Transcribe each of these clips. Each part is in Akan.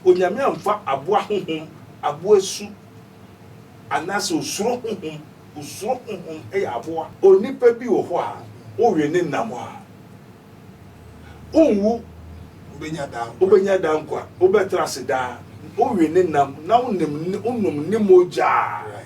Onyame amfa aboa honhom, aboa su, anaasɛ osuro honhom, osuro honhom yɛ aboa. Onipa bi wɔ hɔ a, wowe ne nam a, onwu, obenya daa, obenya daa nkwa, obɛtra ase daa, wowe ne nam na wonom ne mogya a.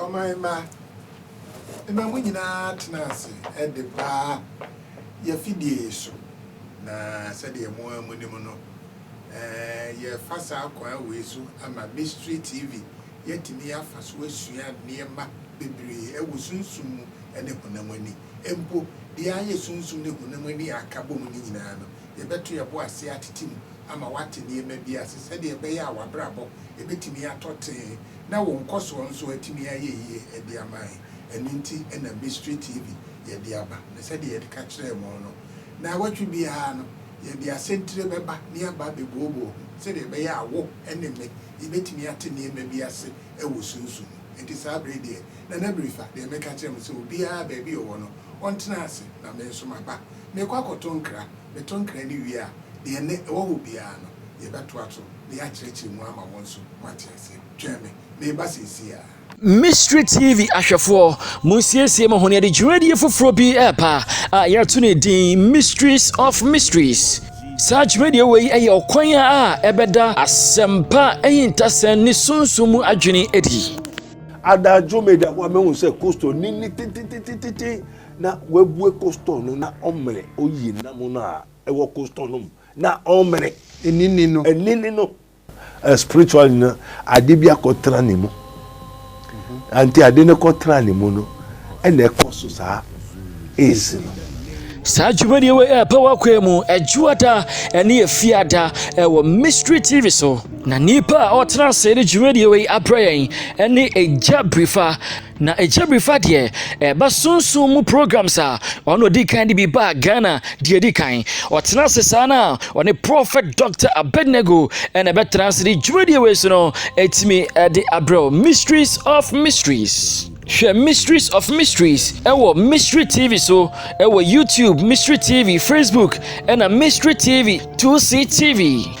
Ɔman mma, mma mo nyinaa tena ase de baa yɛn afidie yi so, na sɛdeɛ mo ara monim no, yɛrefa saa kwan wei so ama Mystery TV Yɛatumi afa so asua nneɛma bebree wɔ sunsum mu ne honam ani. Mpo, deɛ ayɛ sunsum ne honam ani a aka bom no nyinaa no, yɛbɛto yɛn bo ase atete mu ama wate nneɛma bi ase sɛdeɛ ɛbɛyɛ a w'abrabɔ bɛtumi atɔ tee na wo nkɔsoɔ nso atumi ayɛ yie de ama yɛn. Ɛno nti na Mystery TV yɛde aba. Na sɛdeɛ yɛde ka kyerɛɛ mo no, Nnawɔtwe biara no, Yɛde asɛntire bɛba na yɛaba abɛbooboo ho sɛdeɛ ɛbɛyɛ a wo ne me yɛbɛtumi ate nneɛma bi ase wɔ sunsum mu. Enti saa berɛ yi deɛ, Nana Birifa, deɛ meka kyerɛ mo sɛ obiara baabi a ɔwɔ no, ɔntena ase, na me nso maba. Merekɔ akɔto nkra. Meto nkra no wie a, deɛ na ɛwɔ hɔ biara no, yɛbɛtoa so na yɛakyerɛkyerɛ mu ama wo nso woate aseɛ. Twɛn me. Mereba seesei ara. Mystery TV ahwɛfoɔ, monsiesie mo ho, yɛde dwumadie foforɔ bi ɛreba a yɛato no din Mysteries of Mysteries. Saa dwumadie wei yɛ ɔkwan a ɛbɛda asɛmpa ahintasɛm ne sunsum mu adwene adi. Adagyo meda hɔ a mahu sɛ coastal ni ni tititititi na wabue coastal no na ɔmene oyi nam no a ɛwɔ coastal no mu na ɔmene ɛnini no ɛnini no A spiritual nyina ade bi akɔtena ne mu anti ade no kɔtena ne mu no ɛna ɛkɔ so saa aids no. saa dwumadie wei a ɛpɛ wakoe mu adwuada ɛne afiada ɛwɔ mystery tv so na nipa a ɔtena ase ne dwumadie wei abrɛ yɛn ɛne agya birifa Na ɛkyɛ biri fa deɛ ɛba sunsum mu programs a ɔno ɔdi kan de bi baa Ghana deɛ ɛdi kan. Ɔtena ase saa no a, ɔne Prɔfɛt Dɔkta Abednego na ɛbɛtena ase de dwumadie wei so no atumi de abrɛ wo. Mysteries of Mysteries. Hwɛ Mysteries of Mysteries wɔ Mystery TV so wɔ YouTube, Mystery TV, Facebook, ɛna Mystery TV, 2C TV.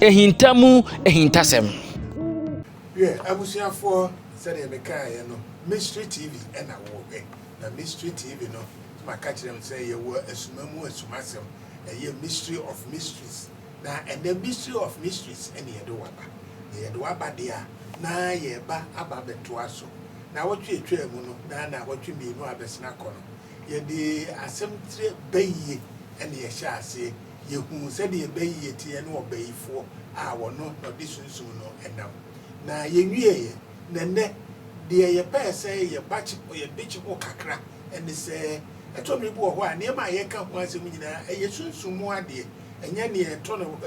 Ahinta mu ahintasɛm. Hwɛ, abusuafoɔ, sɛdeɛ mekaeɛ no, Mystery TV na wɔrehwɛ. Na Mystery TV no, maka kyerɛ mo sɛ yɛwɔ asuma mu asumasɛm, ɛyɛ Mystery of Mysteries. Na ɛnnɛ Mystery of Mysteries na yɛde wo aba. Na yɛde wo aba deɛ a, na yɛreba aba abɛtoa so. Nnawɔtwe a ɛtwaa mu no, na nnawɔtwe mmienu abɛsene akɔ no, yɛde asɛm tire Bayie na yɛhyɛɛ aseɛ. yɛhunu sɛdeɛ bayie teɛ ne ɔbayifoɔ a ɔno na ɔde Sunsum no nam. Na yɛwieeɛ, na nnɛ, deɛ yɛpɛɛ sɛ yɛbekye ho kakra ne sɛ, ɛtɔ mmere bi wɔ hɔ a nneɛma a yɛreka ho asɛm nyinaa, ɛyɛ Sunsum mu adeɛ, ɛnyɛ nea ɛtɔ no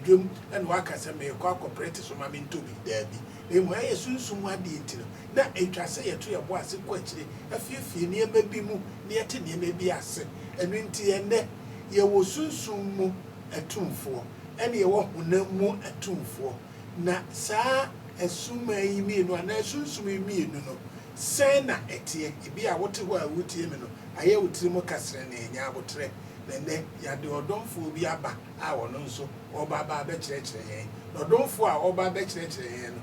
dwam na woaka sɛ merekɔ akɔprɛte so ma mentɔ bi, daabi, na mmom ɛyɛ Sunsum mu adeɛ nti no, na ɛtwa sɛ yɛto yɛn bo ase kɔ akyire, afiefie nneɛma bi mu, na yɛte nneɛma bi ase. Ɛno nti, ɛnnɛ, Yɛwɔ sunsum mu atumfoɔ ɛne yɛwɔ honam mu atumfoɔ, na saa asumaa yi mmienu anaa sunsum yi mmienu no, sɛn na ɛteɛ? Ebi a wote hɔ a woretie me no, ayɛ wo tirim kasere na ɛnyɛ aboterɛ, na ɛnnɛ yɛade ɔdomfoɔ bi aba a ɔno nso ɔreba aba abɛkyerɛkyerɛ yɛn, na ɔdomfoɔ a ɔreba abɛkyerɛkyerɛ yɛn no,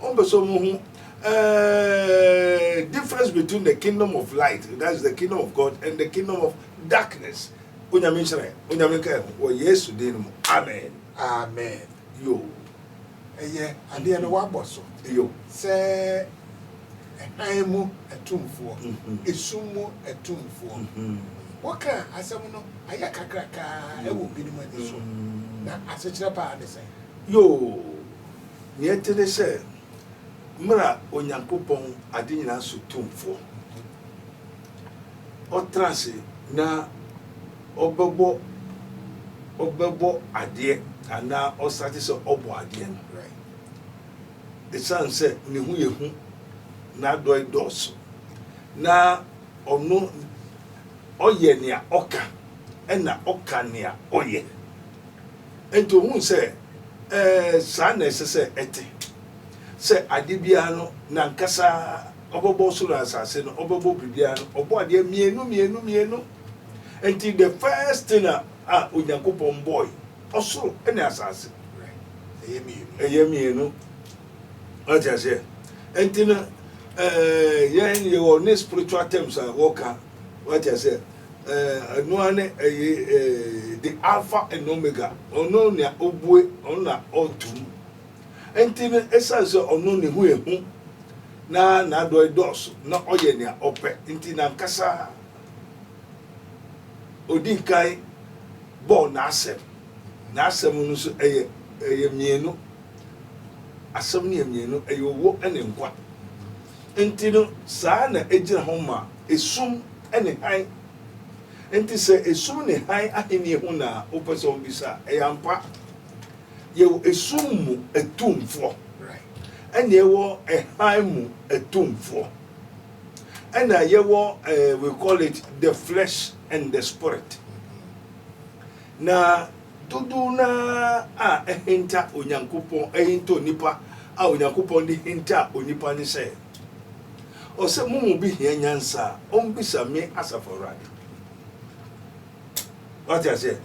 Wɔn pɛ sɛ wɔn hu ɛɛɛ difference between the kingdom of light that is the kingdom of God and the kingdom of darkness onyame nhyerɛn onyame nka ɛho wɔ yesu din no mu amen. Amen yoo ɛyɛ adeɛ no wabɔ so yoo sɛ ɛhan mu atumfoɔ mm-hmm. esum mu atumfoɔ mm-hmm. wɔka asɛm no ayɛ kakrakaa ɛwɔ binom ani so mm-hmm. na asekyerɛ paa ne sɛn yoo Nea ɛte ne sɛ, mmra Onyankopɔn Ade Nyinaa so Tumfoɔ ɔtra ase na ɔbɛbɔ ɔbɛbɔ adeɛ anaa ɔsate sɛ ɔbɔ adeɛ no. Ɛsiane sɛ ne ho yɛ hu, n'adɔe dɔɔso, na ɔno ɔyɛ nea ɔka na ɔka nea ɔyɛ nti, ohuu sɛ, Ɛɛ, saa na ɛsɛ sɛ ɛte, sɛ ade biara no n'ankasa ɔbɛbɔ ɔsoro ne asase no, ɔbɛbɔ biribiara no, ɔbɔ adeɛ mmienu mmienu mmienu. Nti the first thing a a Onyankopɔn bɔɔe, ɔsoro ne asase. Ɛyɛ mmienu. Ɛyɛ mmienu. Wate aseɛ? Nti no, ɛɛ, yɛn yɛwɔ ne spiritual terms a wɔka, wate aseɛ? eh, Ɔno ara ne ɛyɛ eh, The Alpha and Omega, Ɔno nea ɔbue, Ɔno na ɔto mu. Nti no, ɛsiane sɛ Ɔno ne ho yɛ hu, na N'adɔe dɔɔso, na Ɔyɛ nea Ɔpɛ, nti N'ankasa Ɔdii kan bɔɔ N'asɛm. N'asɛm no nso ɛyɛ, ɛyɛ mmienu. Asɛm no yɛ mmienu, ɛyɛ Owuo ne Nkwa. Enti no, saa na egyina hɔ ma esum ne hann. Enti sɛ esum ne hann ahenni ho na wopɛ sɛ wubisa a, ɛyɛ ampa. Yɛwɔ esum mu atumfoɔ, ɛnna yɛwɔ hann mu atumfoɔ, ɛnna yɛwɔ we call it the flesh and the spirit. Na dodow no ara a ahinta Onyankopɔn, ahinta onipa a Onyankopɔn de hinta onipa ne sɛ, ɔsɛ mo mu bi hia nyansa a, ɔmmisa me, Asafo Awurade. Wate aseɛ?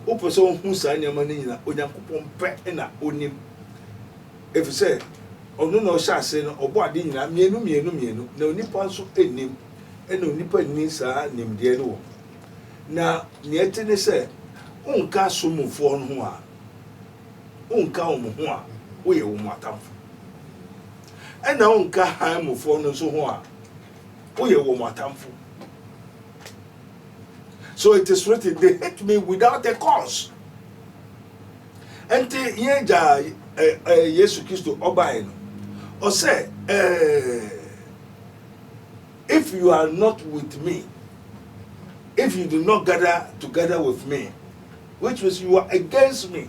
Wopɛ sɛ wohu saa nneɛma no nyina, Onyankopɔn pɛ na onim. Ɛfiri sɛ, ɔno na ɔhyɛ ase no, ɔbɔ ade nyina mmienu mmienu mmienu, na onipa nso nnim, ɛna onipa nni saa nimdeɛ no wɔ. Na nea ɛte ne sɛ, wonka asomfoɔ no ho a, wonka wɔn ho a, woyɛ wɔn atamfo. Ɛna wonka hann mufoɔ no nso ho a, woyɛ wɔn atamfo. So it is written, they hate me without a cause. Ɛnti yɛn agya eh, eh, Yesu Kristo ɔbaeɛ no, ɔsɛ eh, If you are not with me, if you did not gather together with me, which means you are against me.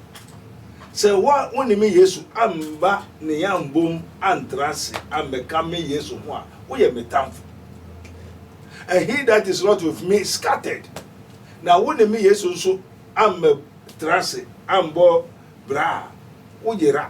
Sɛ wa wo ne me Yesu amba ne yambom antra ase ambɛka me Yesu ho a, woyɛ me tamfo. And he that is not with me scattered. Na wo ne me Yesu nso ambɛtra ase ambɔ bra a, woyera.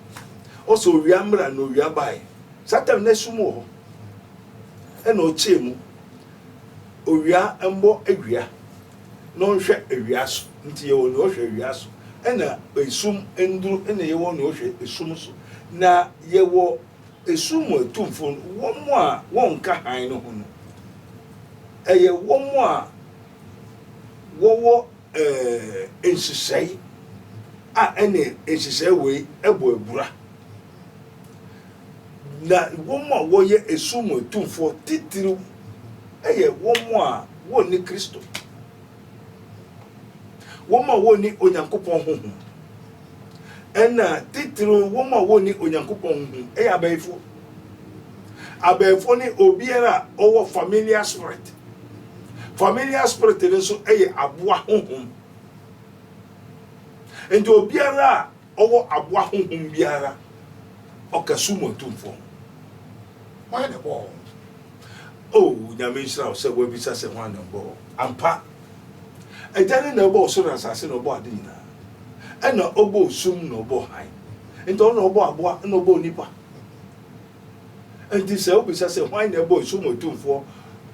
Ɔse owia mmra na owia bae. Satan na sum wɔ hɔ ɛna ɔkyɛɛ mu. Owia mmɔ awia na ɔnhwɛ awia so nti yɛwɔ nea ɔhwɛ awia so ɛna esum nduru ɛna yɛwɔ nea ɔhwɛ esum so na yɛwɔ esum mu atumfo no wɔn a wɔnka hann no ho no ɛyɛ wɔn a wɔwɔ Ɛɛ, nhyehyɛe a ɛne nhyehyɛe wei bɔ abira. Na wɔn a wɔyɛ esum mu atumfoɔ titiriw yɛ wɔn a wɔnni Kristo, wɔn a wɔnni Onyankopɔn honhom. Ɛnna titiriw wɔn a wɔnni Onyankopɔn honhom yɛ abayifo. Abɛɛfo ne obiara a ɔwɔ familiar spirit. Familiar spirit no nso yɛ aboa honhom. Nti obiara a ɔwɔ aboa honhom biara ɔka su mu atumfoɔ ho. Hwan na ɛbɔɔ wɔn? O Nyame nhyira wo sɛ woabisa sɛ hwan na ɛbɔɔ wɔn. Ampa, Agya no na ɔbɔɔ soro ne asase na ɔbɔɔ ade nyinaa. Ɛna ɔbɔɔ sum na ɔbɔɔ hann. Nti ɔno na ɔbɔɔ aboa na ɔbɔɔ nnipa. Enti sɛ wobisa sɛ hwan na ɛbɔɔ esum otumfoɔ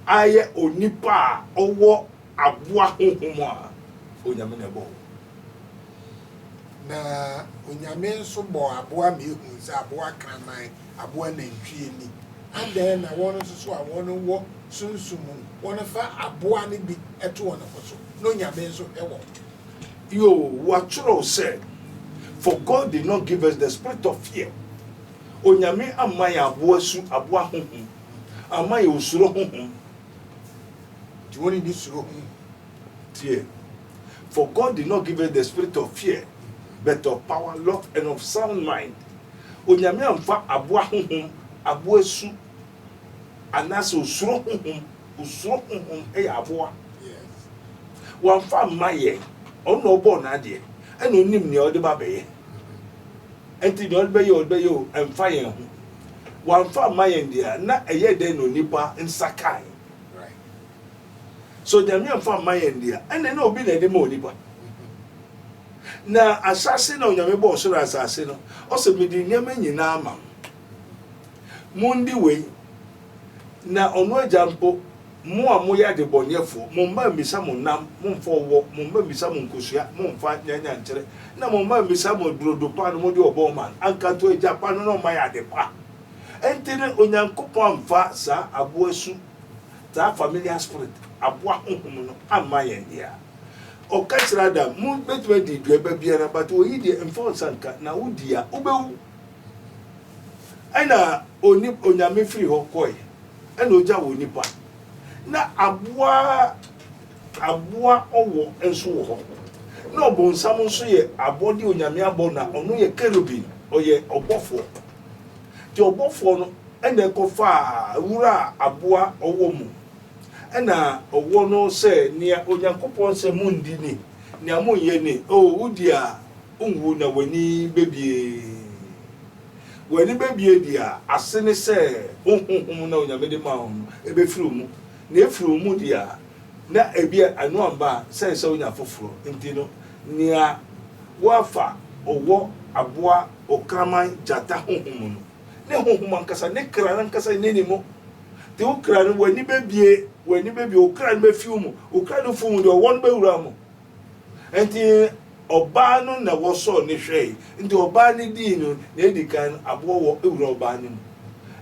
ayɛ onipa a ɔwɔ aboa honhom a, Onyame na ɛbɔɔ no. Na Onyame nso bɔɔ aboa ma yɛhuu sɛ aboa kraman, aboa nantwie ni. Adɛn na wɔn nso so a wɔn wɔ sunsum mu, wɔfa aboa no bi to wɔn ho so, na Onyame nso hwɛ wɔn? Io, wɔatwerɛw sɛ, For God did not give us the spirit of fear, Onyame amma yɛn aboa su, aboa honhom, amma yɛn osuro honhom. Nti wɔn nni suro ho. Tie, For God did not give us the spirit of fear, but of power, love, and of sound mind. Onyame amfa aboa honhom, aboa su, Anaasɛ osuro honhom, osuro honhom yɛ aboa. Wamfa mma yɛn. Ɔno na ɔbɔɔ n'adeɛ, ɛna onim nea ɔde ba bɛyɛ. Ɛnti nea ɔde bɛyɛ ɔde bɛyɛ o, ɛmfa yɛn ho. Wamfa mma yɛn deɛ a, na ɛyɛ dɛn na onipa nsa kae? So Nyame amfa mma yɛn deɛ a, ɛnna na obi na ɛde ma onipa. Na ahyɛase na Onyame bɔɔ soro asase no, ɔsɛ mede nneɛma nyinaa ama mo. Mondi wei, na ɔno agya mpo, mo a moyɛ adebɔneyɛfoɔ, mo mma mmisa mo nam, momfa ɔwɔ, mo mma mmisa mo nkosua, momfa nyanyankyerɛ, na mo mma mmisa mo burodo pa no mode ɔbɔɔ ma no, anka nto agya pa no na ɔmma yɛ ade pa. Enti no, Onyankopɔn amfa saa aboa su, saa familiar spirit, aboa honhom no, amma yɛn dea. Ɔka kyerɛ Adam, mo bɛtumi adi dua ba biara, but wei deɛ, mfa wo nsa nka, na wodi a, wobɛwu. Ɛna oni Onyame firi hɔ kɔe, ɛna ogya wɔ nipa, na aboa aboa ɔwɔ nso wɔ hɔ, na ɔbonsam nso yɛ abɔde Onyame abɔ na ɔno yɛ kerubim, ɔyɛ ɔbɔfoɔ. Nti ɔbɔfoɔ no ɛna ɛkɔ faa wuraa aboa ɔwɔ mu, ɛna ɔwɔ no sɛ, Nea Onyankopɔn sɛ mondi ni, nea monnyɛ ni, oh wodi a, Nwu na w'ani bɛbue. W'ani bɛbue deɛ a, ase ne sɛ wo honhom no a Onyame de maa wo no, ɛbɛfiri wo mu. Na ɛfiri wo mu deɛ a, na ɛbia ɛno amma a, sɛn sɛ wonya foforɔ. Nti no, nea woafa ɔwɔ, aboa, ɔkraman, gyata honhom no, ne honhom ankasa, ne kra no ankasa nni ne mu. Nti wo kra no, w'ani bɛbue, w'ani bɛbue, wo kra no bɛfi wo mu. Wo kra no fi wo mu deɛ, ɔwɔ no bɛwura wo mu. Enti ɔbaa no na wɔsɔɔ no hwɛe, enti ɔbaa no dii no, nea edi kan no, aboɔ wɔ wura ɔbaa no mu.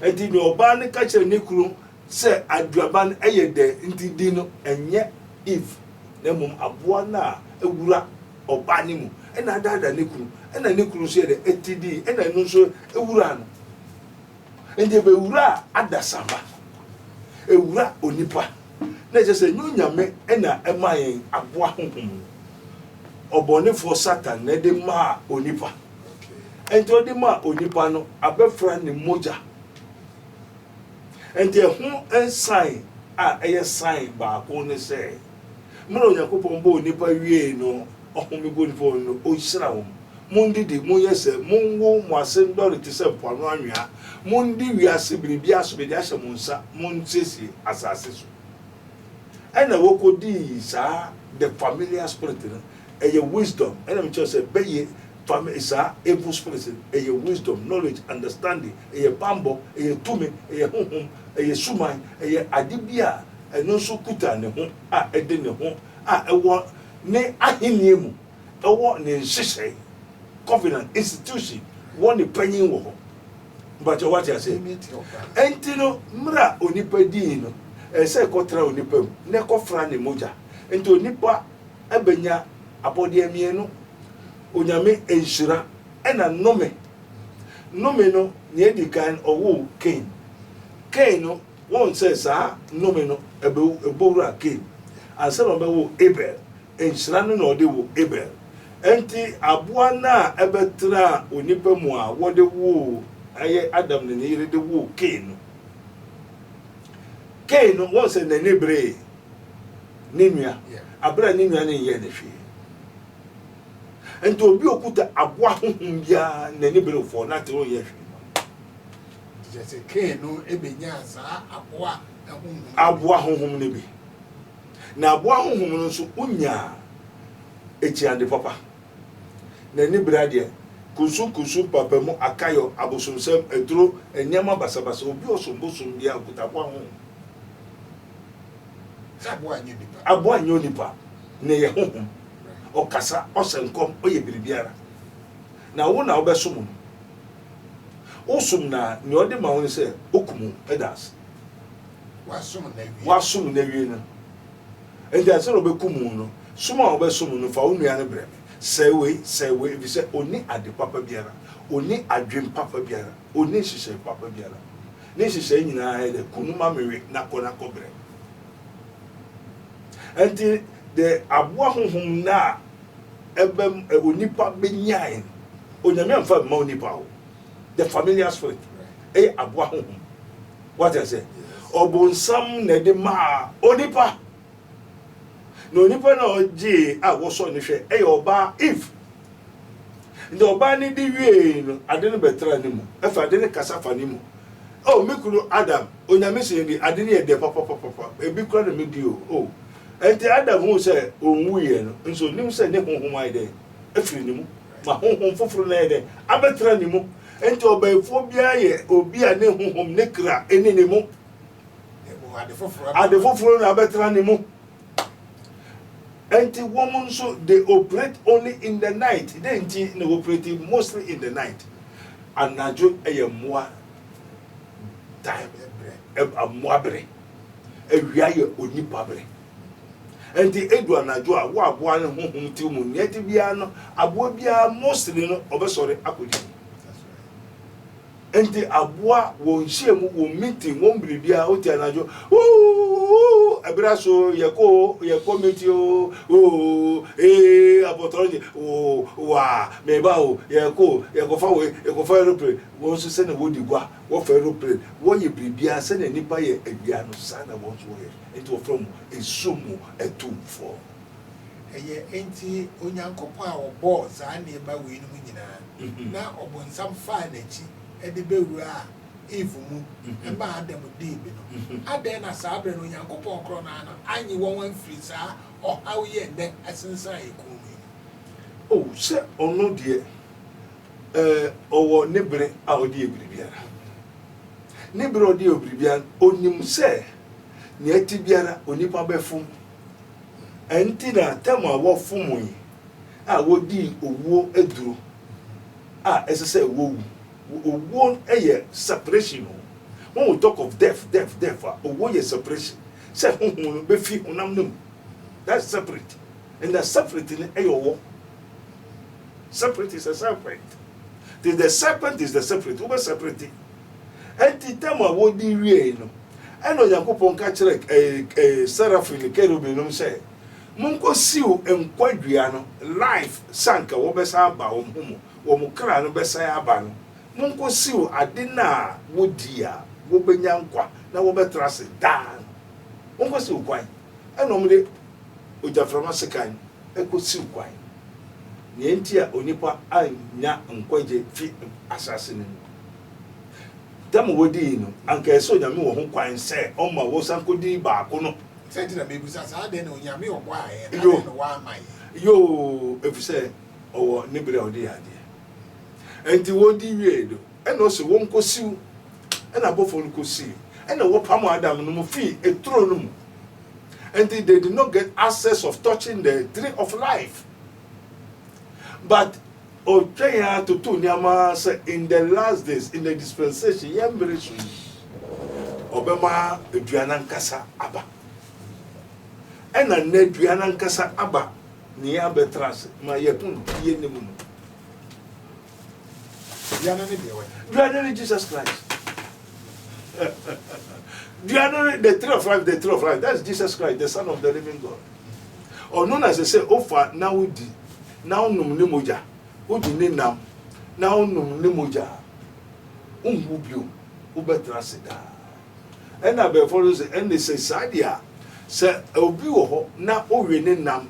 Enti nea ɔbaa no ka kyerɛɛ ne kunu sɛ, Aduaba no yɛ dɛ, enti di no, ɛnyɛ Eve, na mmom aboa no a ewura ɔbaa no mu, ɛnna adaadaa ne kunu, ɛnna ne kunu nso yɛɛ dɛ, enti dii, ɛnna ɛno nso ewuraa no. Enti ebewura adasamma, ewura onipa, na ɛkyerɛ sɛ ɛnyɛ Onyame na ɛmaa yɛn aboa honhom no. Ɔbɔnefoɔ Satan na ɛde maa onipa. Enti ɔde maa onipa no, abɛfra ne mogya. Enti ɛho sign a ɛyɛ sign baako ne sɛ, Mmerɛ Onyankopɔn bɔɔ nnipa wiee no, ɔhome guu nnipa mu no, ɔhyira wɔn. Mondidi, monyɛ sɛ, monwo, mo ase ndɔre te sɛ mpoano anwea. Mondi wiase biribiara so, mede ahyɛ mo nsa, monsiesie asase so. Ɛna wɔkɔdii saa the familiar spirit no, ɛyɛ wisdom, ɛna mekyerɛ sɛ bɛyɛ fami saa evil spirit no, ɛyɛ wisdom, knowledge, understanding, ɛyɛ bammɔ, ɛyɛ tumi, ɛyɛ honhom, ɛyɛ suman, ɛyɛ ade bi a Ɛno nso kuta ne ho a ɛde ne ho a ɛwɔ ne ahenni mu wɔ ne nhyehyɛe, covenant, institution, wɔ ne panyin wɔ hɔ. Mpakyɛ wate ase? Enti no, mmerɛ a onipa dii no, ɛsɛ sɛ ɛkɔtra onipa mu na ɛkɔfra ne mogya. Enti onipa bɛnya abɔdeɛ mmienu, Onyame nhyira ɛna nnome. Nnome no, nea ɛdi kan, ɔwoo Kain. Kain no Woahu sɛ saa nnome no bɛbɔ wura Kain ansa na ɔbɛwo Abel? Nhyira no na ɔde woo Abel. Enti aboa no a ɛbɛtraa onipa mu a wɔde woo, ɛyɛ Adam ne ne yere de woo Kain no. Kain no, woahu sɛ n'ani beree ne nua bere a ne nua no nyɛɛ no hwee. Enti obi a okuta aboa honhom biara, n'ani berew fɔɔ, na te no nyɛ hwee. Nti kyerɛ sɛ Kain no benyaa saa aboa honhom no bi. Aboa honhom no bi. Na aboa honhom no nso onyaa akyinnade papa. N'ani bere adeɛ, kunsunkunsun, papamu, akayɔ, abosomsɛm, aturo, nneɛma basabasa, obi ɔsom bosom bi a ɔkuta aboa honhom. Sɛ aboa nyɛ onipa. Aboa nyɛ onipa, na ɛyɛ honhom. Ɔkasa, ɔhyɛ nkɔm, ɔyɛ biribiara. Na wo na wobɛsom no. Wo som no a, nea ɔde ma wo ne sɛ okum wo, ɛda ase. Woasom no awie no, enti ansa na ɔbɛkum wo no, som a ɔbɛsom wo no, fa wo nua no brɛ me. Sɛe wei, sɛe wei, efisɛ onni ade papa biara, onni adwene papa biara, onni nhyehyɛe papa biara. Ne nhyehyɛe nyinaa yɛ dɛ, kum no ma mewe, na kɔ na kɔbrɛ. Enti, de aboa honhom nna a. Ɛbɛm ɛ onipa bɛ nyae no onyame amfa mma onipa o the familiar spirit ɛyɛ aboa honhom wate asɛ ɔbonsam na ɛde maa onipa na onipa na ɔgyee a wɔsɔ ne hwɛ ɛyɛ ɔbaa if nti ɔbaa ne de wiei no ade no bɛtra ne mu ɛfɛ ade no kasa fa ne mu oh me kunu Adam onyame sɛ yɛdi ade no yɛ dɛ papapapapa ebi kura na medi o oh Enti Adam huu sɛ onwuiɛ no, nso ɔnim sɛ ne honhom ayɛ dɛn? Afiri ne mu, ma honhom foforo no ayɛ dɛn? Abɛtra ne mu. Enti ɔbaefoɔ biara yɛ obi a ne honhom, ne kra, nni ne mu. Ade foforo na abɛtra ne mu. Enti wɔn nso, they operate only in the night. Dɛn nti na wɔoperate mostly in the night? Anadwo yɛ mmoa time, mmoa bere. Awia yɛ onipa bere. Enti edu anadwo a, wo aboa no honhom tiri mu nea ɛte biara no, aboa biara mostly no ɔbɛsɔre akodidi. Enti aboa wɔn nhyiam, wɔn meeting, wɔn biribiara wote anadwo ooo ɛbere aso yɛkɔ yɛkɔ meeting ooo ee abɔtɔrɔ gye ooo waa mɛba o yɛkɔ yɛkɔfa wei yɛkɔfa aeroplane wɔn nso sɛnea wɔdi gua Wɔfa aeroplane, wɔyɛ biribiara sɛnea nnipa yɛ awia no, saa na wɔn nso wɔyɛ. Enti wɔfrɛ wɔn esum mu atumfoɔ. Ɛyɛ enti Onyankopɔn a ɔbɔɔ saa nneɛma weinom nyinaa na Ɔbonsam faa n'akyi de bɛwuraa Eve mu maa Adam dii bi no, adɛn na saa berɛ no Onyankopɔn korɔ no ara no annye wɔn amfiri saa ɔhaw yi a ɛnnɛ asensan yɛn kɔn mu yi mu? O, sɛ Ɔno deɛ Ɔwɔ ne bere a ɔde yɛ biribiara. Ne bere a ɔde yɛ biribiara, onim sɛ nea ɛte biara onipa bɛfom. Ɛnti na tam a wɔfomee a wodii owuo aduro a ɛsɛ sɛ wowu. Owuo yɛ separation o. Wohu talk of death, death, death a, owuo yɛ separation. Sɛ honhom no bɛfi honam no mu. That's separate. And that separate no yɛ ɔwɔ. Separate is a serpent. Nti the serpent is the separate. Wobɛ separate. Ɛnti tam a wɔdi wiei no, ɛna Onyankopɔn ka kyerɛ ɛɛ ɛɛ seraphim ne kerubim nom sɛ, Monkɔ siw nkwa dua no, life, sɛ anka wɔbɛsan aba wɔn ho mu, wɔn kra no bɛsan aba no, monkɔ siw ade no a wɔdi a wɔbɛnya nkwa na wɔbɛtra ase daa no. Monkɔ siw kwan. ɛnna wɔde ogyaframa sekan kosiw kwan. Nea enti a onipa annya nkwagye fi asase no mu dɛm a wodii no, anka ɛsɛ Onyame wɔ ho kwan sɛ ɔma wɔsan kodi baako no. Sɛ nti na mebisa saa, adɛn na Onyame ɔbɔɔ yɛn no, adɛn na wamma yɛn? Yoo, efisɛ ɔwɔ ne bere a ɔde yɛ adeɛ. Enti wɔdi wiei no, Ɛnna ose, Wonkosiw. Ɛnna abɔfo no kosii. Ɛnna wɔpamoo Adam no mu fii turo no mu. Enti they did not get access of touching the tree of life. But ɔtwɛn ara totoo nneɛma ara sɛ in the last days, in the dispensation, yɛn mmere so yi, ɔbɛma dua no ankasa aba. Ɛnna nnɛ dua no ankasa aba, nea yɛabɛtra ase ma yɛahu no, yenim no. Duane ne deɛ wɔ. Duane ne Jesus Christ. Duane ne the tree of life the tree of life that's Jesus Christ the son of the living God. Ɔno na sɛ sɛ ofa na wodi na wonom ne mogya wodi ne nam na wonom ne mogya wonwu bio wobɛtena ase daa ɛna abɛɛfo no sɛ ɛnde sɛ saa deɛ a sɛ obi wɔ hɔ na owe ne nam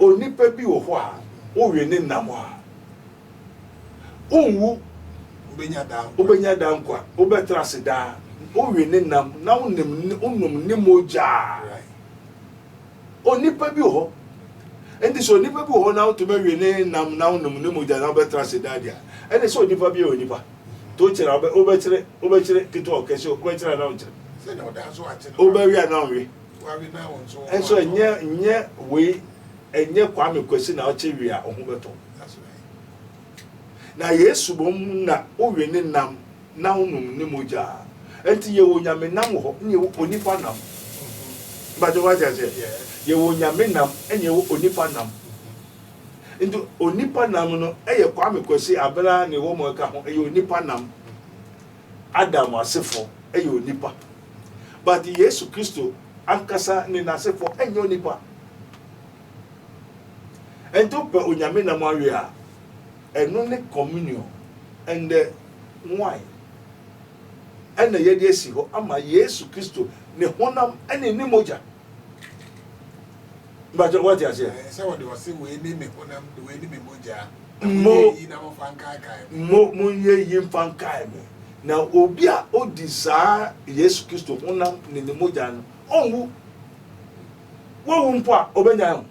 Onipa bi wɔ hɔ a, wowe ne nam a, onwu, wobenya daa nkwa, wobɛtra ase daa. Wowe ne nam na wonom ne mogya a, onipa bi wɔ hɔ. Enti sɛ onipa bi wɔ hɔ na wotumi awe ne nam na wonom ne mogya na wobɛtra ase daa deɛ a, ɛne sɛ onipa bi yɛ onipa. Nti wokyere a, wobɛkyere, wobɛkyere ketewa ɔkɛse, wobɛkyere anaa wonkyere? Wobɛwe anaa wonwe? nso ɛnyɛ nyɛ wei ɛnyɛ kwame kwasi na ɔkyɛ wie a ɔho bɛtɔ na yesu bom na wowe ne nam na wonom ne mogya nti yɛwɔ nyame nam wɔ hɔ ne yɛwɔ onipa nam bàtò wájú ase yɛwɔ nyame nam ɛna yɛwɔ onipa nam nti onipa nam no ɛyɛ kwame kwasi abira na ɛwɔ mu ɛka ho ɛyɛ onipa nam. Adam asefo yɛ onipa but Yesu Kristo ankasa ne n'asefo nyɛ onipa. Ɛnti wopɛ Onyame nam awe a, ɛno ne communion and the wine ɛna yɛde asi hɔ ama Yesu Kristo ne honam ne ne mogya. Mpakyɛw, woate aseɛ? Ɛsɛ sɛ wɔde ɔse, Wei ne me honam, wei ne me mogya, na Mo, monyɛ eyi na momfa nkaakae me. mo, monyɛ eyi mfa nkae me. Na obi a odi saa Yesu Kristo honam ne ne mogya no, ɔnwu. Wawu mpo a, ɔbɛnyan o.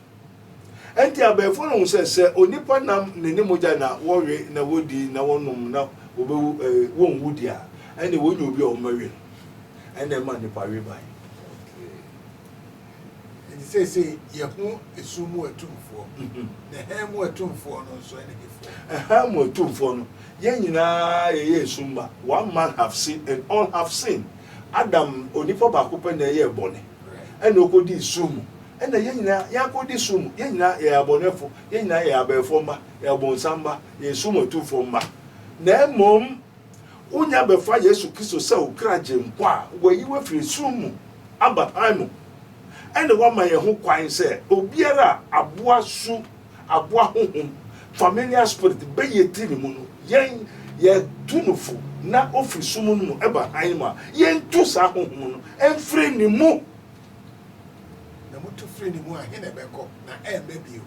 Ɛnti abayifoɔ no hu sɛ, sɛ onipa nam ne ne mogya na wɔwe na wɔdi na wɔnom na wɔbɛwu, eh, wɔnwu deɛ a, ɛnneɛ wɔnya obi a wɔbɛwe no. Ɛnna ɛma nnipa we bae. Okay. Enti seesei yɛho esum mu atumfoɔ, na hann mu atumfoɔ no nso ne hefoɔ? Hann mu atumfoɔ no, yɛn nyinaa yɛyɛ esum mma. One man have sinned and all have sinned. Adam, onipa baako pɛ na ɛyɛɛ bɔne, ɛna ɔkɔdii sum mu. Ɛna yɛn nyinaa yɛakɔdi sum mu. Yɛn nyinaa yɛyɛ abɔnɛfo. Yɛn nyinaa yɛyɛ abɛɛfoɔ mma, yɛyɛ ɔbonsam mma, yɛyɛ esum atumfoɔ mma. Na mmom. Wonya bɛfa Yesu Kristo sɛ wo kra Gyenkwa a wayi wo afiri sum mu aba hann mu, ɛne wama yɛn ho kwan sɛ obiara a aboa su, aboa honhom, familiar spirit, bɛyɛ ti ne mu no, yɛn yɛtu no fo na ofiri sum no mu ɛba hann mu a, yɛntu saa honhom no mfiri ne mu. Na motu firi ne mu a, he na ɛbɛkɔ, na ɛremma bio?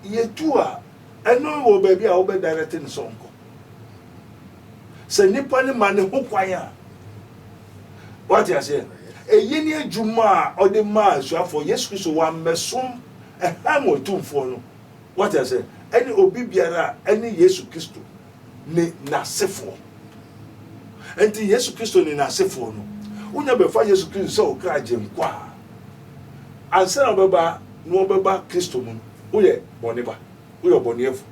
Yɛtu a, Ɛno ne wɔ baabi a wobɛ direct no sɛ ɔnkɔ. Sɛ nipa no ma ne ho kwan a. Wate aseɛ? Ɛyi ne adwuma a ɔde maa asuafoɔ Yesu Kristo wammɛsom ɛhan wɔ atumfoɔ no. Wate aseɛ? Ɛne obi biara a ɛne Yesu Kristo ne n'asefoɔ. Ɛnti Yesu Kristo ne n'asefoɔ no, wonya bɛfa Yesu Kristo sɛ ɔkra agyenkwa a, ansa na ɔbɛba no ɔbɛba Kristo mu no. Woyɛ bɔne ba, woyɛ ɔbɔneɛfo,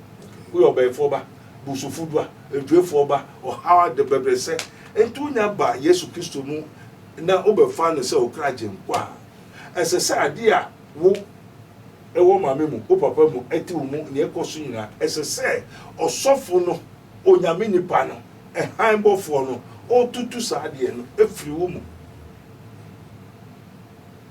woyɛ ɔbɛnfoɔ ba, bosofo dua, ntuefoɔ ba, ɔhaw ade, bɛbrɛsɛ, nti wonya ba Yesu Kristo mu na wobɛfa no sɛ wo kra gyenkwa a, ɛsɛ sɛ adeɛ a wo wɔ maame mu, wo papa mu, ɛte wo mu, nea ɛkɔ so nyinaa, ɛsɛ sɛ ɔsɔfo no, Onyame nipa no, hann bɔfoɔ no, ɔtutu saa adeɛ no firi wo mu.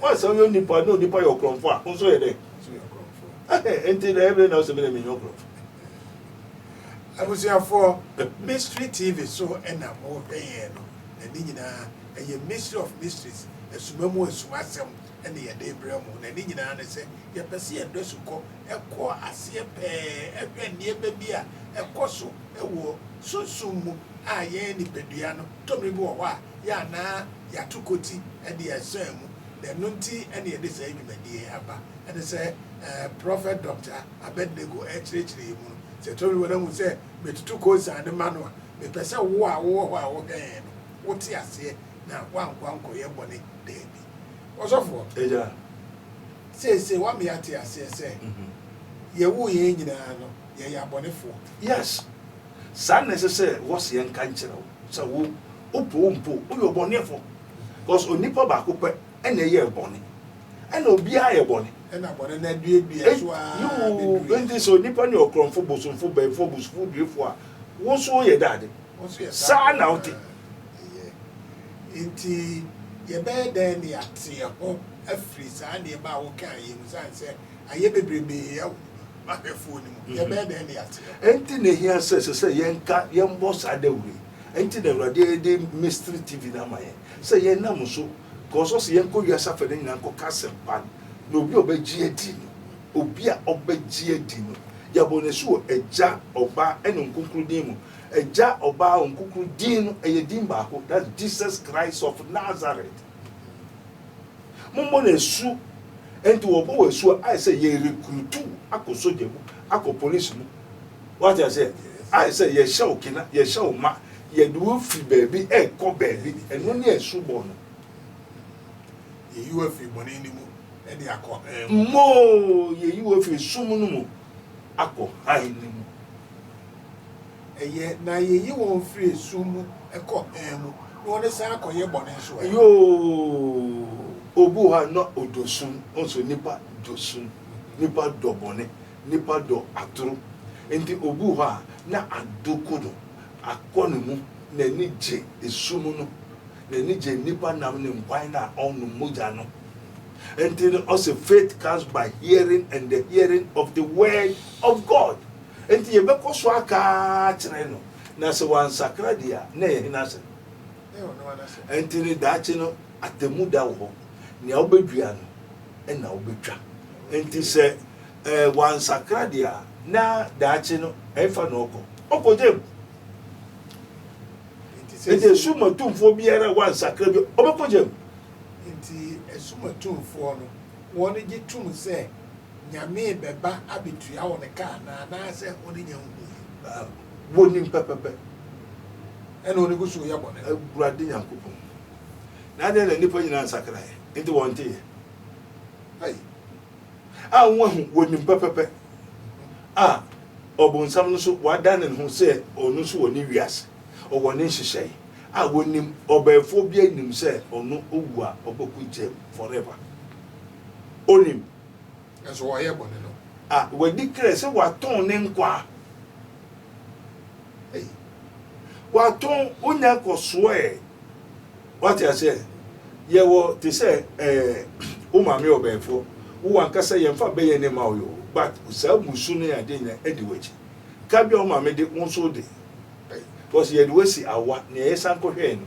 Once a ɔyɛ onipa na onipa yɛ ɔkorɔmfo a, wo nso yɛ dɛn? Ɛhɛ, enti na ɛbere na wosɛ me na menyɛ ɔkorɔmfo. Abusuafoɔ, Mystery TV so na mo hwɛ yɛn no, na ne nyinaa ɛyɛ Mystery of Mysteries, Asuma mu Asumasɛm na yɛde rebrɛ mo, na ne nyinaa ne sɛ yɛpɛ sɛ yɛde asukɔ kɔ aseɛ pɛɛ hwɛ nneɛma bi a ɛkɔ so wɔ sunsum mu a yɛn nipadua no tobiri bi wɔ hɔ a yɛ a na yɛato koti de asan mu, na ɛno nti na yɛde saa dwumadi yi aba. Ɛne sɛ Prɔfɛt Dɔkta Abednego rekyerɛkyerɛ yɛn mu no, sɛ tobiri bi wɔ hɔ na wuhu sɛ metutu kosan no ma no a, mepɛ sɛ wo a wowɔ hɔ a wohwɛ yɛn no, wote aseɛ na woankɔ ankɔyɛ bɔne. Dabi. Ɔsɔfoɔ, seesei woama yɛate aseɛ sɛ yɛwoo yɛn nyinaa no, yɛyɛ abɔnefoɔ. Yes. Saa na ɛsɛ sɛ wɔse yɛnka nkyerɛ wo sɛ wo wopɛ o mpo woyɛ ɔbɔneɛfoɔ cause onipa baako pɛ na ɛyɛɛ bɔne ɛna obiara yɛ bɔne ɛna bɔne no aduadua so ara bɛduru yɛn nti sɛ onipa no yɛ ɔkorɔmfo bosomfo bɛmfo abusufo duefo a wo nso woyɛ dɛ ade saa na wote ɛyɛ nti yɛbɛyɛ dɛn na yɛate yɛn ho afiri saa nneɛma a wokaeɛ mu ɛsiane sɛ ayɛ bebrebee ahwɛfoɔ no mu, yɛbɛyɛ dɛn de ate no? Enti na ehia sɛ ɛsɛ sɛ yɛnka, yɛbɔ saa dawuru yi. Enti na Awurade de Mystery TV no ama yɛn, sɛ yɛnam so, because ɔse yɛnkɔ wiase afɛ no nyinaa nkɔka asɛmpa no, na obi a ɔbɛgye adi no, obi a ɔbɛgye adi no, yɛabɔ no asu wɔ Agya, Ɔba, ɛne Ɔnkonkro din mu. Agya, Ɔba, Ɔnkonkro din no, ɛyɛ din baako, that's Jesus Christ of Nazareth. Mommɔ no asu. Ɛnti wɔbɔ wo asu a, ayɛ sɛ yɛrekrutu wo akɔ sogya mu, akɔ polisi mu. Wate aseɛ? Ayɛ sɛ yɛhyɛ wo kena, yɛhyɛ wo ma, yɛde wo firi baabi ɛrekɔ baabi. Ɛno ne asubɔ no. Yɛyi wo afiri bɔne no mu de akɔ hann mu. Mmoo, yɛyi wo afiri sum no mu akɔ hann no mu. Ɛyɛ, na Yeyi wɔn firi esum mu kɔ hann mu, na wɔde san akɔ yɛ bɔne nso ɛ. Yoo, obi wɔ hɔ a na ɔdɔ sum, wohu sɛ nnipa dɔ sum, nnipa dɔ bɔne, nnipa dɔ atoro, enti obi wɔ hɔ a na ado ko no akɔ ne mu, n'ani gye esum no, n'ani gye nnipa nam ne nkwan no a ɔnnom mogya no, enti no ɔse faith comes by hearing and the hearing of the word of God. Enti yɛbɛkɔ so aka akyerɛ no, na sɛ wansakra deɛ a, na ɛyɛ hena asɛm? Enti ne daakye no, atemmu da wɔ hɔ. Nea wobɛdua no na wobɛtwa. Enti sɛ eh, wansakra deɛ a, na daakye no, ɛfa na ɔkɔ. Ɔkɔ gyam. Enti asumatumfoɔ biara a wansakra bi, ɔbɛkɔ gyam. Enti asumatumfoɔ no, wɔn gye tom sɛ. Nyame bɛba abetua hɔn ka anaa? Anaasɛ hɔn nnyɛ ho hu yi? Wonim pɛpɛpɛ na hɔn gu so yɛ bɔn. Ewurade Nyankopɔn, na adɛn na nnipa nyina nsakraeɛ, enti wɔnteeɛ? Ei! A woahu, wonim pɛpɛpɛ, a ɔbonsam no nso wadane ne ho sɛ ɔno nso wɔ ne wiase, ɔwɔ ne nhyehyɛe, a wonim, ɔbɛɛfoɔ biara nnim sɛ ɔno ɔwu a ɔbɛko ntia mu, forever. Onim. Nanso wayɛ bɔne no. A, wadi krɛ sɛ watɔn ne nkwa. Ei. Watɔn, onya kɔsoɔ ɛ. Wate aseɛ? Yɛwɔ te sɛ ɛɛ, wo maame ɔbɛɛfoɔ, wo w'ankasa yɛmfa bɛyɛ ne mma wo yoo, but saa mmusu ne adeɛ nyinaa adi w'akyi. Ka bi a wo maame de, wo nso wode. Ei. Because yɛde wo asi awa, nea yɛsan kɔhwɛɛ no,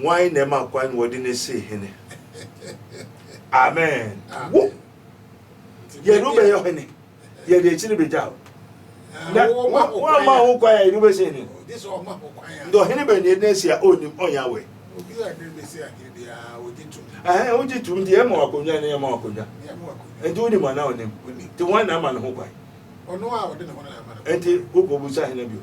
Hwan na ɛma kwan na wɔde no sii hene? Amen. Wo, yɛde wo bɛyɛ hene, yɛde akyiri bɛgya wo. Ah, na woama ho kwan a yɛde wo bɛsi hene. Nti ɔhene bɛn na yɛde no asi a ɔnnim ɔnyɛ awɛ? wogye tom nti ɛma wakonnwa ne ɛma wakonnwa nti wonim ana wonim nti wɔn na ama ne ho kwan nti wokɔbusa hena bio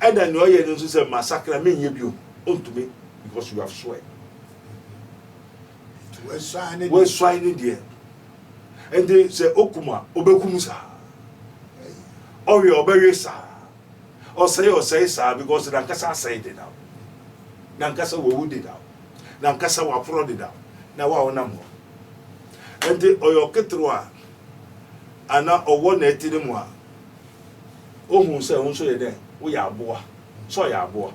ɛna nea ɔyɛ no nso sɛ masakra menyɛ bio ɔntumi because you have swear wɔasuae ne deɛ ɛnti sɛ okum a ɔbɛkum saa ɔwe a ɔbɛwe saa ɔsɛe ɔsɛe saa because nankasa asɛe dedaw nankasa wawu dedaw nankasa waporɔ dedaw na wa ɔnam hɔ ɛnti ɔyɛ ɔketewa a ana ɔwɔ na ɛti ne mu a Ohun sɛ wo nso yɛ dɛn? Woyɛ aboa. Sɛ ɔyɛ aboa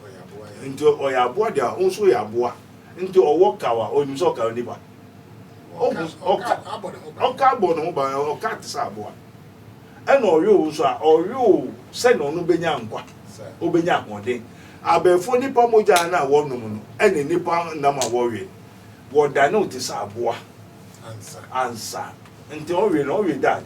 nti ɔyɛ aboa deɛ a, wo nso woyɛ aboa nti ɔwɔ kaw a, ɔnim sɛ ɔkaw nipa. Ohun ɔka ɔka abɔ ne ho ban, ɔka te sɛ aboa. Ɛna ɔwe wo nso a, ɔwe wo sɛnea ɔno benya nkwa, obenya ahoɔden. Abɛɛfo nipa mogya no a wɔnom no ɛne nipa nam a wɔwe no, wɔdane wo te sɛ aboa ansa. Nti ɔwe no, ɔwe da ade.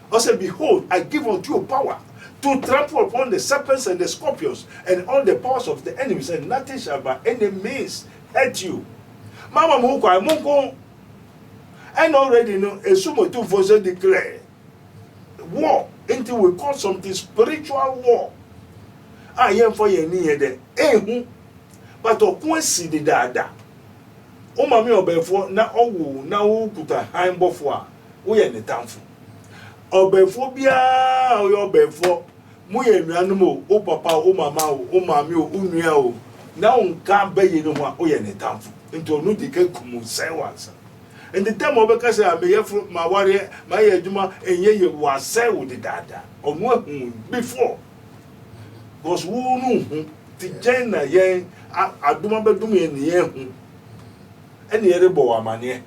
Ɔsɛ, Behold, I give unto you power to trample upon the serpents and the scorpions and all the powers of the enemies and nothing shall by any means hurt you. Mama mo ho kwan, monko. And already no, esumotufo nso declare war nti we call something spiritual war a yɛmfa yɛn ani yɛ dɛ ehu but ɔko asi dedaada wo maame ɔbɛɛfoɔ na ɔwo na wokuta han bɔfoɔ a woyɛ ne tamfo. Ɔbɛnfoɔ biara a ɔyɛ ɔbɛnfoɔ, moyɛ anuanom o, wo papa o, wo mama o, wo maame o, wo nua o, na wonka bɛyɛ no ho a, woyɛ ne tamfo. Nti ɔno di ka kum wo, sɛe wo ansa. Nti tam a ɔbɛka sɛ, me yɛforo, mawareɛ, mayɛ adwuma, ɛnyɛ yie, wasɛe wo dedaada. Ɔno ahu wo before. Because wo no nhu. Nti gyɛn na yɛn adom abɛdom yɛn ne yɛahu ɛne yɛrebɔ wo amaneɛ.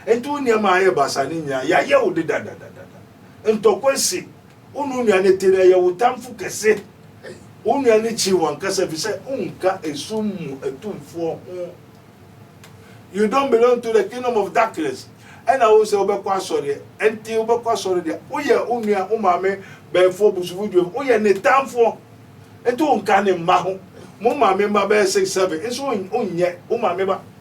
Enti wo nneɛma a ayɛ basaa no nyinaa, yɛayɛ wo de dadadadada. Ntɔkwa si. Wo ne wo nua no te no, ɛyɛ wo tamfo kɛse. Wo nua no kyi wo ankasa efisɛ wonka esum mu atumfoɔ ho. You don't belong to the kingdom of darkness. Ɛna wo sɛ wobɛkɔ asɔreɛ. Enti wobɛkɔ asɔre deɛ, woyɛ wo nua, wo maame bɛɛfoɔ, busufo, dwuamfo, woyɛ ne tamfoɔ. Enti wonka ne mma ho. Mo maame mma bɛyɛ six, seven nso wonyɛ wo maame ba.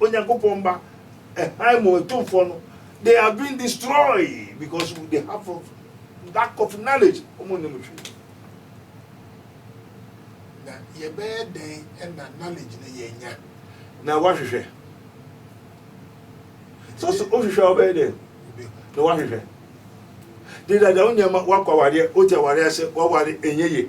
Onyankopɔn mma hann mu atumfoɔ no they have been destroyed because they have of lack of knowledge wɔn nnim hwee na yɛbɛyɛ dɛn na knowledge no yɛnya na wahwehwɛ so so wohwehwɛ a wobɛyɛ dɛn na wahwehwɛ de dada wo nneɛma woakɔ awareɛ wote awareɛ ase waware ɛnyɛ ye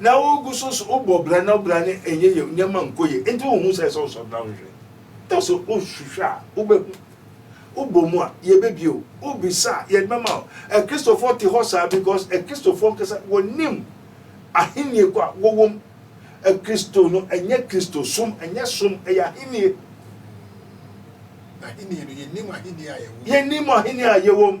Na wo gu so so wo bɔ bra na wo bra no ɛnyɛ yɛ nneɛma nkɔ yɛ nti wo hu sɛ ɛsɛ wo sɔ bra wo hwɛ tɔ so wo hwehwɛ a wo bɛ hu wo bɔ mu a yɛ bɛ bie o wo bisa a yɛ bɛ ma o ɛkristofoɔ te hɔ saa because ɛkristofoɔ nkasa wɔ nim ahennie kɔ a wɔ wɔm ɛkristo no ɛnyɛ kristo som ɛnyɛ som ɛyɛ ahennie ahennie no yɛ nim ahennie a yɛ wɔm yɛ nim ahennie a yɛ wɔm.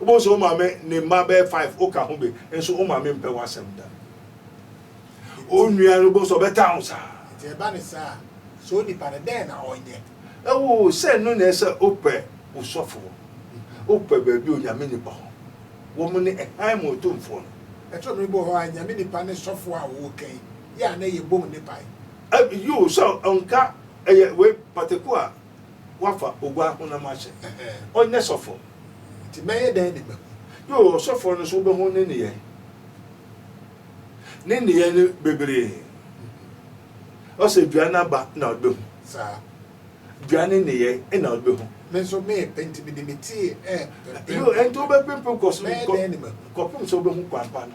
Wobɛhu sɛ wo maame ne mma bɛyɛ five woka ho bi nso wo maame mpɛ w'asɛm da. Wo nua no wobɛhu sɛ ɔbɛtaa wo saa. Nti ɛba ne saa a, sɛ onipa no dɛn na ɔnyɛ? Ɛwoo, sɛ ɛno na ɛyɛ sɛ wopɛ wo sɔfoɔ, wopɛ baabi a Onyame nipa hɔ, wɔn ne ɛhan mu otumfoɔ no. Ɛtɔ mmere bi wɔ hɔ a Nyame nipa ne sɔfoɔ a wɔka yi yɛ a na yɛbom ne pae. Ɛb, yoo, sɛ ɔnka ɛyɛ wei pataku a wɔafa oguaa honam ahyɛ ɔnyɛ sɔfoɔ. Nti mɛyɛ dɛn de mahu? Yoo, ɔsɔfoɔ no nso wobɛhu ne nneyɛe. Ne nneyɛe no bebree. Ɔsɛ dua no aba na ɔde bɛhu. Saa. Dua no nneyɛe na ɔde bɛhu. Me nso merepɛ nti mede me ti repempem. Yoo, ɛnti wobɛpempem kɔ so. Mɛyɛ dɛn de mahu? Kɔpem sɛ wobɛhu kwan pa no.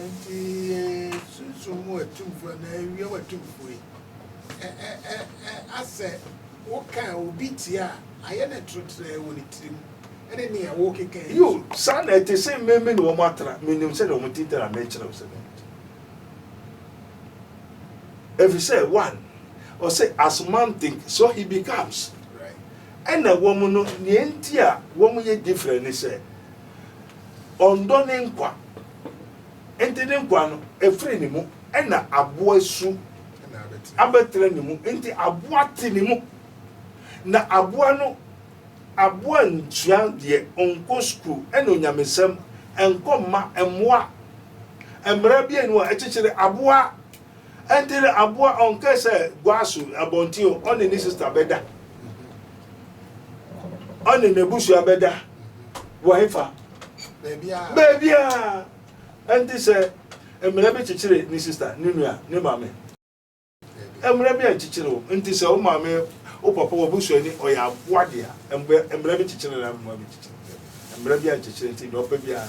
Enti sunsum mu atumfoɔ anaa ewiem atumfoɔ yi, ɛ ɛ ɛ ɛ asɛ woka obi tia a, ayɛ no trotrɛɛ wɔ ne tirim ne nea wokeka yi so. Yiw, saa na ɛte. Se me me ne wɔn atra, minim sɛnea wɔn ti tra a, merekyerɛ wo sɛnea wɔn ti tra. Efisɛ, one, ɔse, as man think, so he becomes. Right. Ɛna wɔn no, nea enti a wɔyɛ different ne sɛ, Ɔndɔ ne nkwa, nti ne nkwa no ɛfiri ne mu, ɛna aboa su abɛtena ne mu, nti aboa te ne mu. Na aboa no, aboa nsua deɛ, ɔnkɔ sukuu, ɛna onyamesɛm, ɛnkɔ mma mmoa. Mmara bienu a ɛkyekyere aboa. Ɛnti no aboa ɔnkɛ sɛ Guaso abɔnten o, ɔne ne sista bɛda? Ɔne n'abusua bɛda? Wɔ hefa? Baabiaa. Ɛnti sɛ mmara bi kyekyere ne sista, ne nua, ne maame? Mmara bi ankyekyere o. Ɛnti sɛ wo maame, wo papa, w'abusuani, ɔyɛ aboa dea, mmara bi kyekyere no anaa mmara bi ankyekyere no? Daabi, mmara bi ankyekyere, ɛnti deɛ ɔpɛ biaa.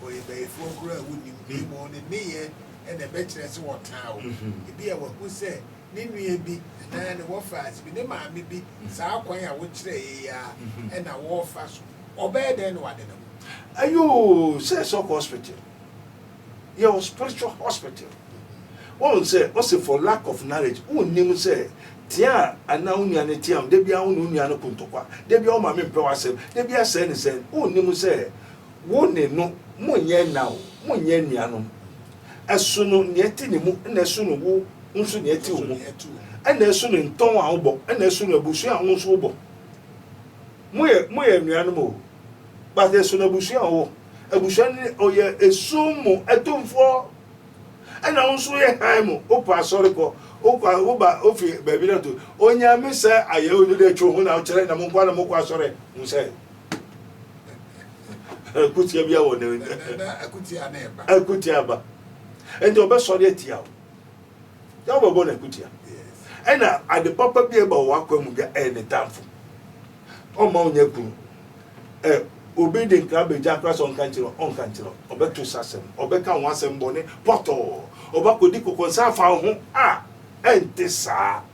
wɔyɛ bayifoɔ koraa a wonnim na mmom wɔn nneyɛɛ na ɛbɛkyerɛ sɛ wɔtaa wo. Ebia wahu sɛ ne nua bi anaa ne wɔfaase bi, ne maame bi, saa kwan a wokyerɛeɛ yi ara na wɔrefa so. Ɔbɛyɛ dɛn na wade ne ho? Ayoo, sɛ sɛ ɔkɔ hospital, yɛwɔ spiritual hospital. Woahu sɛ ɔse for lack of knowledge, wonnim sɛ tea a anaa wo nua no team, da biara wo ne wo nua no ko ntɔkwa, da biara wo maame mpɛ w'asɛm, da biara sɛn ne sɛn, wonnim sɛ Wo ne no, monyɛ ɛnã o, monyɛ anuanom. Ɛsono nea ɛte ne mu, ɛna ɛsono wo nso nea ɛte wo mu, ɛna ɛsono ntɔn a wobɔ, ɛna ɛsono abusua a wo nso wobɔ. Moyɛ moyɛ anuanom o, but ɛsono abusua a wowɔ. Abusua no ne ɔyɛ esum mu atumfoɔ, ɛna wo nso woyɛ hann mu. Wopɛ asɔre kɔ, wokɔ woba wofi baabi na to Onyame sɛ ayɛ wo no dɛ twe wo ho na wokyerɛ na mo nkoa na mokɔ asɔre. Hu sɛ. akutia bi awɔ ne akutia aba nti ɔbɛsɔre atia wo na wobɛbɔ no akutia ɛna ade papa bi ɛba wɔ akwa mu bi ɛyɛ ne tamfo ɔma wonya kunu ɛ obi de nkra bɛgya kora sɛ ɔnka nkyerɛ ɔnka nkyerɛ ɔbɛto sɛ asɛm ɔbɛka ho asɛm bɔne pɔtɔɔ ɔbɛkɔdi kɔkɔnsa afa wo ho a ɛnte saa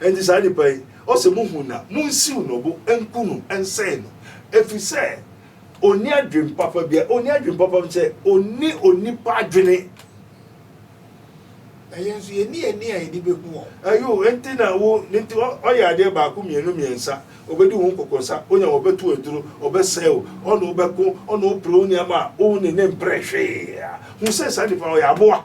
Enti saa nipa yi, ɔsɛ muhu no a, munsiw no bo nku no nsɛe no, efisɛ onni adwene papa biara, onni adwene papa sɛ onni onipa adwene. Na yɛn nso yɛnni ani a yɛde behu wɔn. Ayo, enti na wo, enti ɔyɛ adeɛ baako, mmienu, mmiɛnsa, ɔbɛdi wo ho nkɔkɔnsa, onya wo, ɔbɛto wo aduro, ɔbɛsɛe wo, ɔne wo bɛko, ɔne wo pere wo nneɛma a wo ne ne mpere hwee a, hu sɛ saa nipa no, ɔyɛ aboa.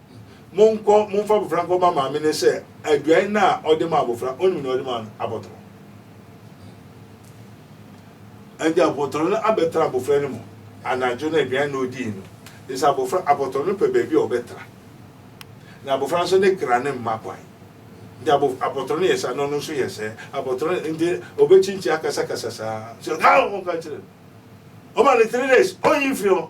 Monkɔ, momfa abofra nkɔma maame no sɛ aduan no a ɔde ma abofra, onim nea ɔde ma no, abotɔrɔ. Ɛnde abotɔrɔ no abɛtra abofra no mu anadwo no aduan na odii no, de sɛ abofra, abotɔrɔ no pɛ baabi a ɔbɛtra, na abofra nso ne kra no mma kwan. Nti abo, abotɔrɔ no yɛ saa na ɔno nso yɛ sɛɛ. Abotɔrɔ no nti obekyinkyin akasakasa saa. So, ɔka, ɔka kyerɛ no. Ɔma no three days, onnyi mfiri hɔ.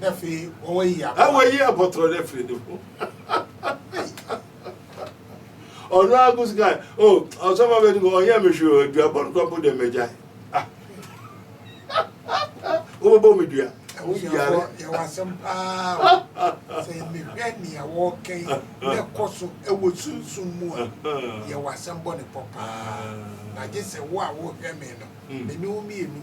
na wayi abɔtorɔ no afiri ne ho ɔno ara ko sika o ɔsɔfo bɛ no ɔnyɛ me hwee adua bɔ no kora mpo deɛ magya wobɛbɔ me dua yɛwɔ asɛm paa sɛ mehwɛ nea wɔkɛn na ɛkɔ so ɛwɔ sunsum mu a yɛwɔ asɛm bɔ ne pɔ paa na gye sɛ wo a wohwɛ me no mene wo mmienu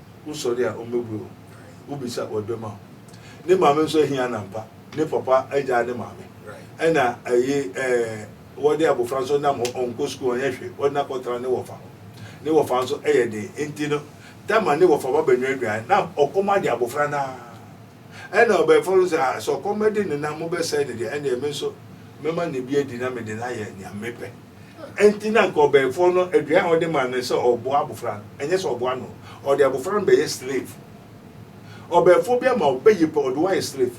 Wosɔre a, wɔbɛbue wo. Wobisa a, wɔde bɛma wo. Ne maame nso ahia no ampa. Ne papa agyaa ne maame. Ɛna ɛyi ɛɛ wɔde abofra nso nam hɔ, ɔnkɔ sukuu, ɔnyɛ hwee. Wɔde no akɔtra ne wɔfa hɔ. Ne wɔfa nso yɛ den. Enti no, da ma ne wɔfa ba bɛnoa aduan. Na ɔkɔm ade abofra no ara. Ɛna ɔbɛɛfo no sɛ, ah, sɛ ɔkɔm bɛde no na mobɛsɛe no deɛ, ɛnneɛ me nso mɛma no bi adi na mede no ayɛ nea mepɛ. Enti na anka ɔbɛɛfoɔ no aduan a ɔde ma no ne sɛ ɔreboa abofra no, ɛnyɛ sɛ ɔreboa no. Ɔde abofra no bɛyɛ slave. Ɔbɛɛfoɔ bi ama wo bɛyɛ pɛ, ɔde wo ayɛ slave.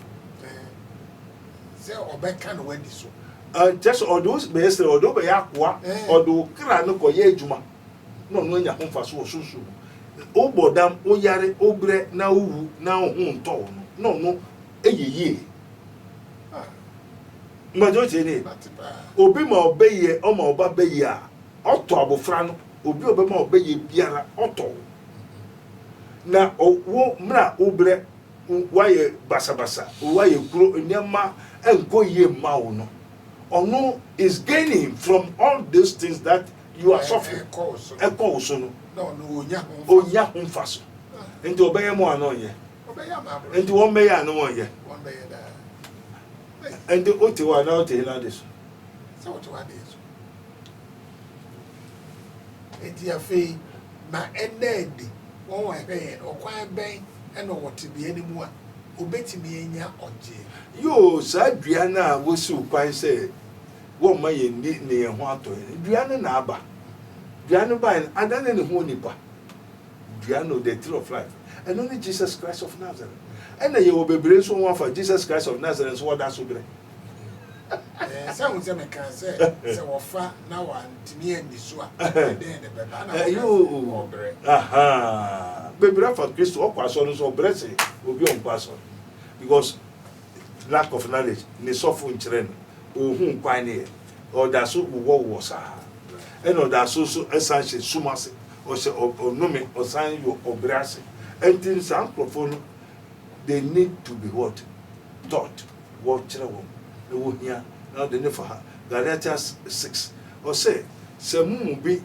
Sɛ ɔbɛka na wadi so. Kyerɛ sɛ ɔde wo bɛyɛ slave, ɔde wo bɛyɛ akoa, ɔde wo kra no kɔyɛ adwuma na ɔno anya ho mfaso wɔ sunsum mu. Wobɔ dam, woyare, wobrɛ na wowu na wo ho ntɔ wo no, na ɔno yɛ yie. Ma dza otsie nye, obi ma ɔbɛyɛ, ɔma ɔba bɛyɛ a, ɔtɔ abofra no, obi a ɔbɛma ɔbɛyɛ biara, ɔtɔ wo. Na ɔ, wo, mbrɛ wobrɛ, wo, woayɛ basabasa, wo, woayɛ kuro, nneɛma nnkɔ yie mma wo no, ɔno is gaining from all these things that you are suffering, ɛkɔ wo so no, ɔnnya ho mfaso. Nti ɔbɛyɛ ma wo anaa ɔnnyɛ? Nti wɔn bɛyɛ a na wɔn yɛ. Nti o te hɔ a na o te hela ade so. Sɛ o te hɔ ade yɛ so. Nti afei na ɛnna ɛdi wɔn wɔn ɛhwɛ yɛn ɔkwan bɛn ɛna ɔwɔ te bea ne mu a obetumi anya ɔgye. Yoo saa dua no a wosi o kwan sɛ wɔn ma yɛn ni ne yɛn ho atɔ yɛn dua no na aba dua no ba yɛn adane ne ho onipa. dua no the tree of life ɛno ne Jesus Christ of Nazareth ɛna yɛwɔ bebree nso wɔn afa Jesus Christ of Nazareth nso wɔda so brɛ sɛ ho sɛ meka sɛ sɛ wɔfa na wantumi anni so a ɛdɛn ne bɛba na wɔbrɛ bebree afa Kristo ɔkɔ asɔre nso ɔbrɛ se obi ɔnkɔ asɔre because lack of knowledge ne sɔfo nkyerɛ no ohun kwan ne yɛ Ɔda so wowɔ wowɔ saa ɛna ɔda so nso san hyɛ sum ase, ɔhyɛ ɔnome, ɔsan wɔ ɔbrɛ ase. Ɛnti no saa nkorɔfoɔ no they need to be what? Taught, wɔkyerɛ wɔn, na wɔhia na wɔde ne fa ha. Galatians six, ɔse sɛ mo mu bi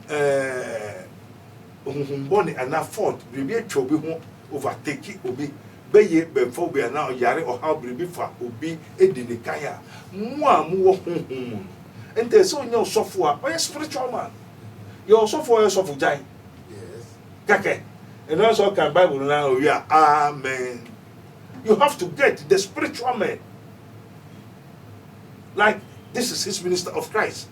ɛɛɛ honhom bɔne anaa fault biribi atwa obi ho, overtake obi, bɛyɛ bɛmfa obi anaa ɔyare, ɔhaw, biribi fa obi di ne kan a, mo a mowɔ honhom mu no, ɛnta sɛ ɔnya ɔsɔfo a ɔyɛ spiritual man. Yɛwɔ ɔsɔfo a ɔyɛ ɔsɔfo gyan kɛkɛ, ɛno ara sɛ ɔkan Bible no ara ɔwie a, amen. You have to get the spiritual man. Like, this is his minister of Christ.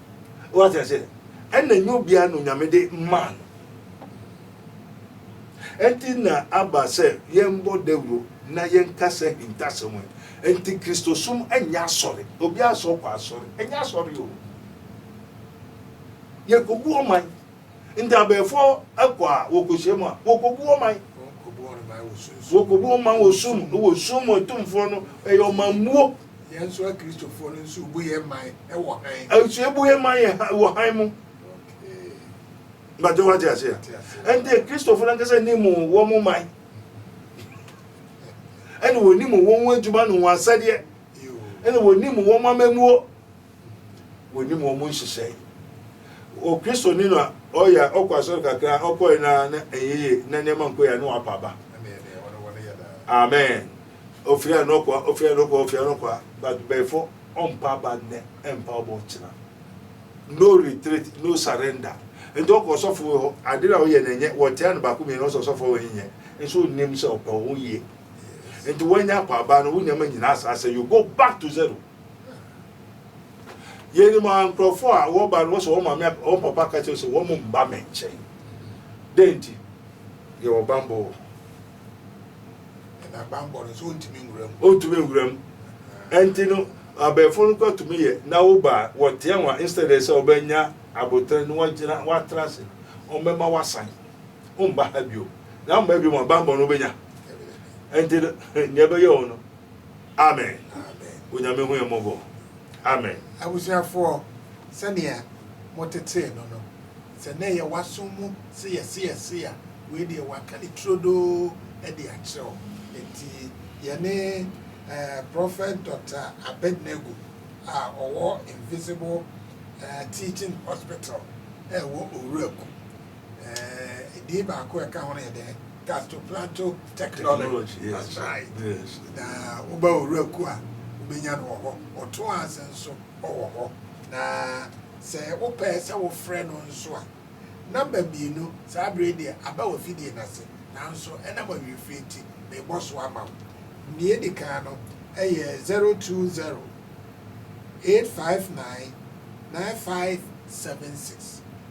Wate ase? Ɛna nyɛ obiara na Onyame de maa no. Ɛnti na aba sɛ yɛmbɔ dawuro na yɛnkasa ahintasɛm yi. Ɛnti Kristosom ɛnyɛ asɔre. Obiara sɛ ɔkɔ asɔre. Ɛnyɛ asɔre o. Yɛkɔbu ɔman. Nti abɛɛfoɔ ɛkɔ a wɔkɔhyia mu a, wɔkɔbu ɔman. Wɔkɔbu ɔman wɔ sum. Wɔ sum mu atumfoɔ no ɛyɛ ɔmanmuo. Yɛn nso Akristofoɔ no nso bu yɛn man wɔ hann. Nso yɛbu yɛn man yɛ hann wɔ hann mu. Bàtɛ wa ti ase a. Ɛnti Akristofoɔ no ankasa ni mu wɔn mo man. Ɛna wɔn ni mu wɔn ho adwuma no wɔn asɛdeɛ. Ɛna wɔn ni mu wɔn amammuo. wɔnim wɔn nhyehyɛe. O Kristoni no a ɔyɛ a ɔkɔ asɔre kakra a ɔkɔe no ara na ɛnyɛ yie na nneɛma nkɔ yie a na wapa aba. Amen. Ofiri a na ɔkɔ a ofiri a na ɔkɔ ofiri a na ɔkɔ a but bɛfo ɔmpa aba nnɛ ɛmpa ɔbɔ kyena. No retreat no surrender. Nti ɔkɔ ɔsɔfo hɔ ade na ɔyɛ na ɛnyɛ wɔtea no baako mmienu ɔsɛ ɔsɔfo wɔ nyɛ nso nim sɛ ɔpɛ ho yie. Nti wɔanya akɔ aba no wo nneɛma nyinaa saa sɛ you go back to zero. Yɛnim a nkurɔfoɔ a wɔba no wɔsɛ wɔn maame wɔn papa ka kyerɛ sɛ wɔn mba me nkyɛn. Dɛn nti? Yɛwɔ bammɔ wɔ ɛna bammɔ no nso ɔntumi nwura mu. Ɔntumi nwura mu. Ɛnti no abɛɛfo no kɔ tumi yɛ na woba a wɔteɛ wɔn a instead sɛ wɔbɛnya abotire no wɔagyina wɔatra ase wɔbɛma wasan womba ha bio na mma bio ma bammɔ no wobɛnya. Ɛnti no nea ɛbɛyɛ wɔn no Amen Onyame hu yɛn mmɔbɔ Amen. Abusuafoɔ, sɛdeɛ motetee no no, sɛ na ɛyɛ w'aso mu sɛ yɛse yɛse a, wei deɛ wɔaka no turodoo de akyerɛ wo. Enti yɛne eh, Prophet Doctor Abednego a ɔwɔ Invisible eh, Teaching Hospital a ɛwɔ Owuraku, Eh, din baako a ɛka ho no yɛ dɛn? Gastoplato Technology. That's right. Yes. Na woba owura ku a wobɛnya no wɔ hɔ. Ɔto ase nso ɔwɔ hɔ. Na sɛ wopɛ sɛ wofrɛ no nso a, namba mmienu saa berɛ deɛ aba wɔ fidie no ase. Nanso ɛnam awiefie nti, mebɔ so ama wo. Nea ɛdi kan no yɛ 020 859 9576.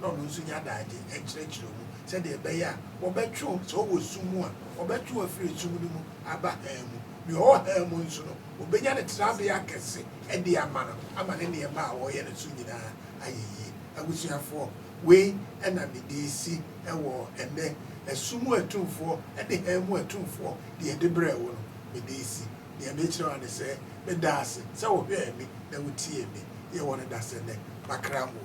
na ɔno nso nya adagye nkyerɛkyerɛ mu sɛdeɛ ɛbɛyɛ a wɔbɛtwe wo, sɛ wowɔ sum mu a, wɔbɛtwe wo afiri sum no mu aba hann mu. Deɛ ɔwɔ hann mu nso no, wɔbɛnya ne tenabea kɛse de ama no ama ne nneɛma a ɔreyɛ no so nyinaa ayɛ yie. Abusuafoɔ, wei na mede resi wɔ ɛnnɛ, sum mu atumfoɔ ne hann mu atumfoɔ, deɛ yɛde brɛɛ wo no, mede resi. Deɛ merekyerɛ wo ara ne sɛ, meda wo ase sɛ wohwɛɛ me na wotiee me. Yɛwɔ no dasɛ nnɛ, makra mu o.